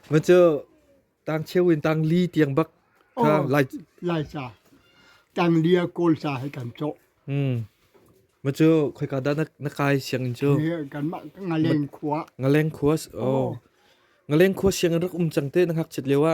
Macu tang cheu in tang li tiang bak kha lai laica tang li a kawl sa hai kan cho. Hmm. Macu khoi ka da na kai siang in chu. Kan ma ngaleng khua. Ngaleng khua. Oh. Ngaleng khua siang rak um chang te na hak chit lewa.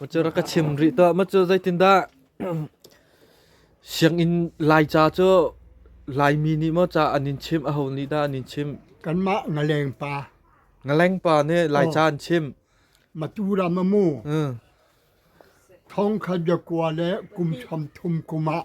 Macur ka chim rih tuah macur zeitindah sianginn laica cu laimi nih maw ca an in chim a ho nih dah an in chim kanmah ngaleng pa ngaleng pa nih laica an chim maturam a mu thong khat bia kua le kum chom thum kum ah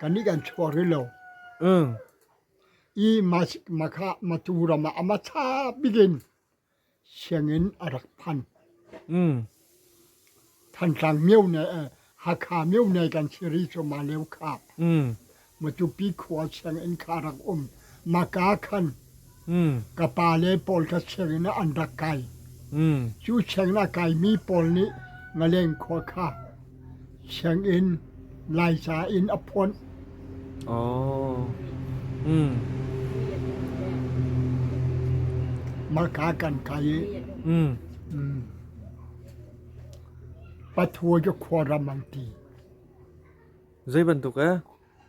Kannih kan chuak rih lo. I Matu ram ah a ma ṭha bik in sianginn a rak phan. Thantlang Myone, Hakha Myone kan si rih cu, Maleu khap. Matupi khua sianginn kha a rak um. na kaa khan ka pa le pawl ka chengin an rak kai. Cu cheng a kaimi pawl nih ngaleng khua kha chengin laica in a phonh. Oh. Maka kan kai i Pathuai cu khuaram an ti. Zei bantuk eh?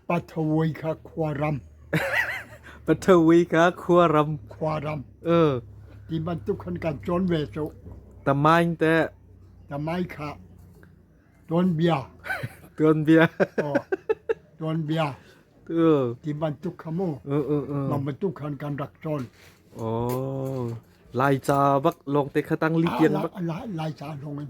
Pathawi kha khuaram. Pathawi kha khuaram. Khuaram. Uh. Ti bantuk khan kan cawn ve cu. Tamain te. Tamai kha. Tuanbia. Tuanbia. Oh. Tuanbia. Tu. Ti bantuk kha mu. Uh uh uh. Mam bantuk khan kan rak cawn. Oh. Lai ca bak long te khatang li piang bak. Lai lai ca long in.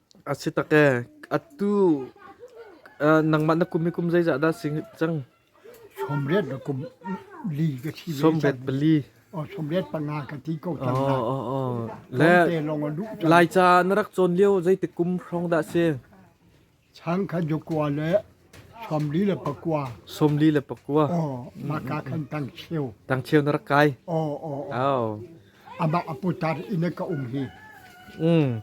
A si tak ee. Atu nangmah na kum hi kum zeizah dah si cang? Sawmriat na kum li ka thi ve. Sawmriat pali. Oh, sawmriat panga ka ti ko cang Oh, oh, oh. Le Laica na rak cawn lio zeitik kum hrawng dah si? Chang kha jukua le Sawmli le pakua. Sawmli le pakua. Aw, maka kan tangcheu. Tangcheu na rak kai. Aw, aw, aw. Amah aputar ina ka um hi. Mm.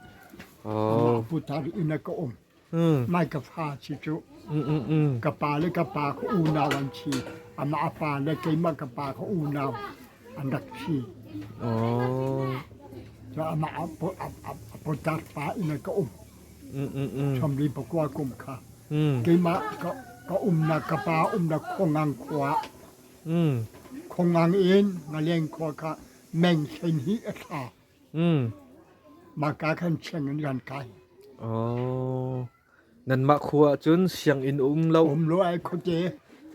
Amah Oh. aputar ina ka um. Mm. Mai ka fa si tu. Mm, mm, mm. Ka pa le ka pa ka unau an chi. Amah apa le keima ka pa ka unau an rak chi. Oh. So amah apu- ap- ap- aputar pa ina ka um. Ṭhamri pakua kum kha keimah ka umnak ka pa umnak khuangang khua ah khuangang in ngaleng khua kha meng hlein hi a thla mahka khan cheng in ran kai. Oh, nanmah khua ah cun sianginn um lo. Um lo ai khuate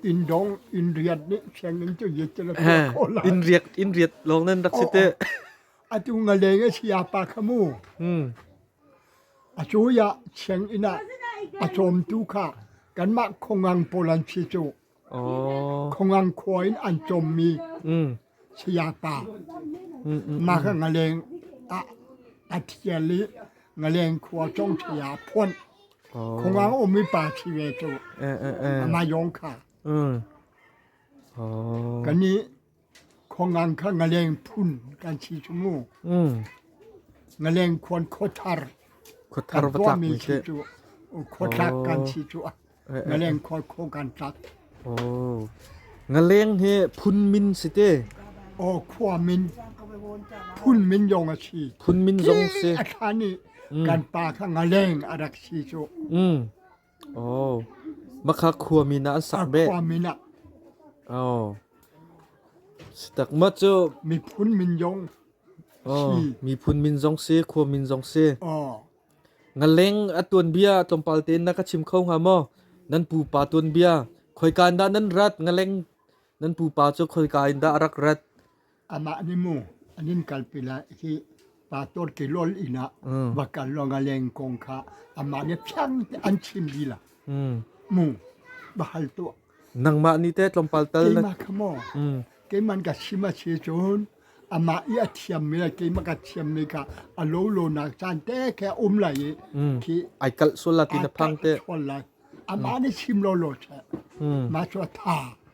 inn dong inn riat nih sianginn cu yet cala khua khol inn riat inn riat long nan rak si te. Atu ngaleng a si apa khamu. A cui ah sianginn ah a cawmtu kha kanmah Khongang pawl an si cu. Khongang khua in an cawmmi sayapa mah kha Ngaleng ah a thial i Ngaleng khua cong saya a phuan. Khongang ummi pa si ve cu. Amah yawng kha. Kan i Khuangan kha ngaleng phun kan si cu mu. Ngaleng khuan khuathar. Khuathar va tlak mi khi. Khuatlak kan si cu. Ngaleng khuan kho kan tlak. Oh. Ngaleng hi phun min si te. Oh khua min. Phun min yong a si. Phun min zong si. A thani kan pa kha ngaleng a rak si cu. Makha khuami nih an sah beh. Khua min ah Sitakma cu miphun min zong si. Miphun min zong si, khua min zong si. Ngaleng a tuan bia tlawmpal tein na ka chim kho hnga maw? Nan pupa tuan bia. Khoikan dah nan rat? Ngaleng nan pupa cu khoikan dah a rak rat? Amah nih mu an in kalpi lai hi pa torki lol inn ah va kal lawng a leng kong kha amah nih phiang te an chim lila mu va hal tuah nangmah ni te tlawmpal tal na keimah kha maw keiman ka sim a si cun amah i a thiammi le keimah ka thiammi kha a lo lo nak caan te khe um lai i khi ai kalh sual la ti na phang te sual lai amah nih sim lo lo che ma chu tha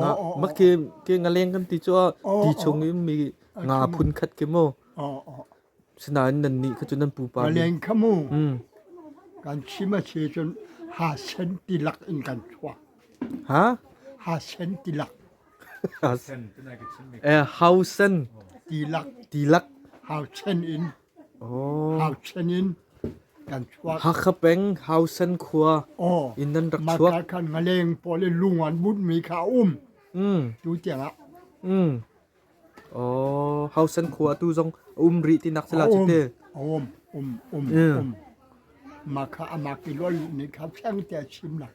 nga mak ke ke ngaleng kan ti chu a ti chung i mi nga phun khat ke mo sinain nan ni kha chu nan pupa ni ngalen khamu kan chima che chun ha sen tilak in kan thua ha ha sen tilak ha sen eh hausen tilak tilak hau chen in Hakha peng Hausan khua in nan rak chuak. Khan ngaleng pawl in lung an bunhmi kha a um. Tu tiangah. Oh, Hausan khua tu zong a um rih ti nak sila cite. Um, um, um, um. Maka amak i lol ni kha pheng te chim nak.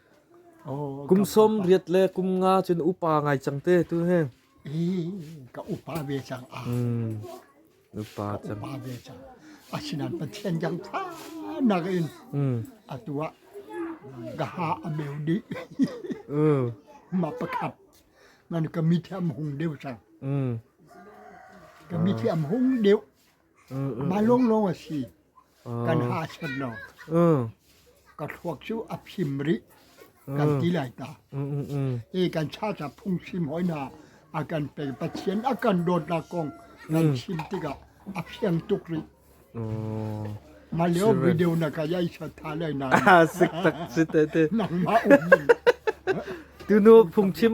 Kum sawm riat le kum nga cun upa ngai cang te tu he. Ka upa ve cang. Upa cang. Upa ve cang. Asinan Pathian jang tha nak in atu ah ka ha a meu di. Ma pakhat. Man ka mi thiam hung deu cang. Ka mi thiam hung deu. Mah lawnglawng a si. Kan ha chan lo. Ka thluak cu a phim rih. Kan ti lai ta. E kan cha ca phungchim hoina a kan pe Pathian a kan dawtnak kong kan chim tikah a fiang tuk rih. Mah leo video na ka yai chot tha lai na. Sik tak si te te. Nangmah um ning. Tunu phungchim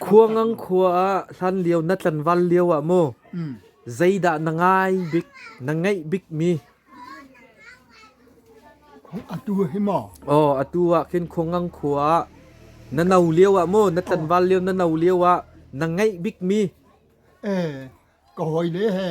Khua ngang khua ah hlan lio na tlanval lio ah maw zeidah na ngai bik na ngeih bik mi? Atu hi maw? Aw atu ah khin khua ngang khua ah na no lio ah maw na tlanval lio na no lio ah na ngeih bik mi? Eh ka hoi le he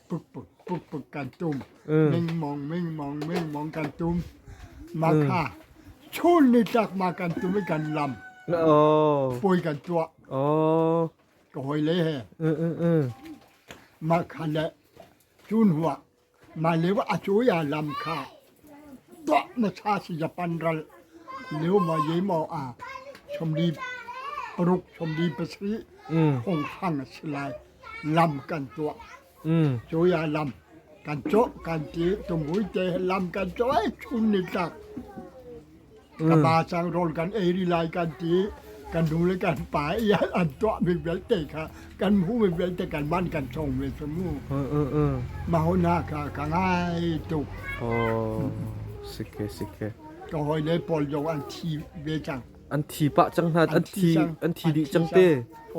pukpuk kan tum mengmong mengmong mengmong kan tum makha chun ni tak ma kan tum i kan lam pui kan tua ka hoi le he makha le chun hua ma le wa a chu ya lam kha Tuah na ṭha Sizapan ral Leumaw Yemaw ah sawmli paruk sawmli pasarih phunghram a si lai. Lam kan tuah. Cuai ah lam kan cawh kan ti. Tumui te lam kan cawh ai chum ni tlak. ka pa cang rawl kan ei ri lai kan ti kan nu le kan pa i an tuah mi vialte kha kan mu mi vialte kan man kan chong ve cu mu ma ho na ka ka ngai tuk oh sike sike ka hoi le pol yo an thi ve cang an thi pa cang hna an thi an thi di cang te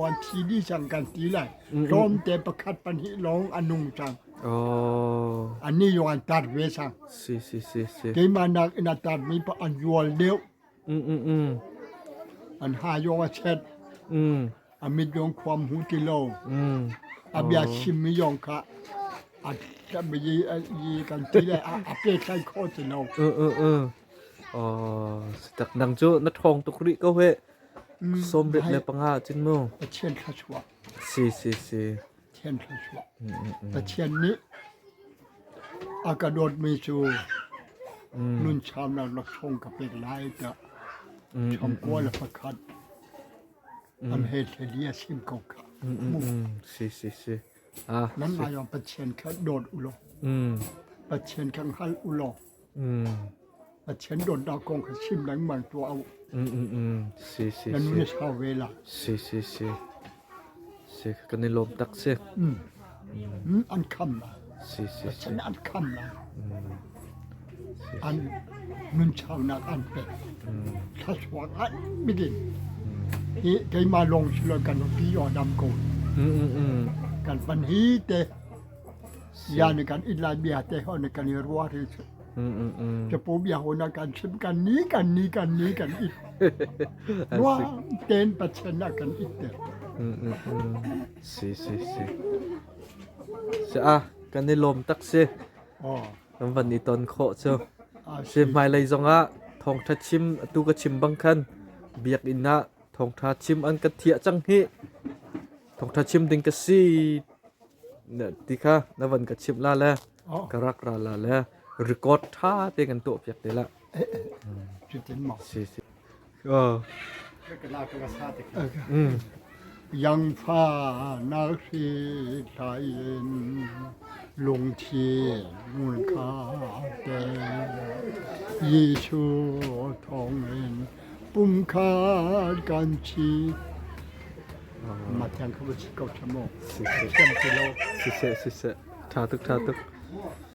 an thi di cang kan ti lai rom te pakhat pan hi long anung cang Oh. Ani yung an tar ve sang. Si si si si. Keimah nak ina tar mi pa an yual deu. Mm mm mm. An ha yung a chet. Mm. Amit yung kwam hu ti lo. Mm. Abia oh. sim mi yung ka. At kami yi yi kan ti le a pe kai kho ti lo. Ừ ừ ừ. Oh, setak nang jo na thong tuk ri ko he. Som ret le panga chin mu. A chen kha chua. Si si si. Pathian thluachuah. Pathian nih a ka dawtmi cu nunchaunak laksawng ka pek lai tiah changkua le pakhat an he hleli a sim ko kha. Si si si. Ah. Nan aiong Pathian kha dawt u law. Pathian kan hal u law. a chen donnak kong kha sim lengmang tuah u. Na nu na sau ve la. Si si si. Si kan i lawm tak si. An kham la. Si si si. An kham la. An nun chau nak an pe. Thasuak an begin. Hi keima long sila kan pi o dam ko. Kan pan hi te. Sian kan in lai bia te ho ne kan i rua ri cu. Capu bia ho na kan chim kan ni kan ni kan ni kan it. Rua ten pachen na kan it te. Si si si. Si ah kan i lom tak si. Oh. Kan van i ton kho cu. Si hmailei zong ah thongtha chim tu ka chim bang khan biak in na thongtha chim an ka thia cang hi. Thongtha chim ding ka si ti kha na van ka chimh la le ka rak ra la le record ṭha te kan tuah piak te la yang fa nal khi lai in lung thi ngun kha te Jesu thong in pum khan kan thi. Matiang kha va si ko ṭha maw? Si seh. Siam ti lo. Si seh, si seh. Ṭha tuk, ṭha tuk.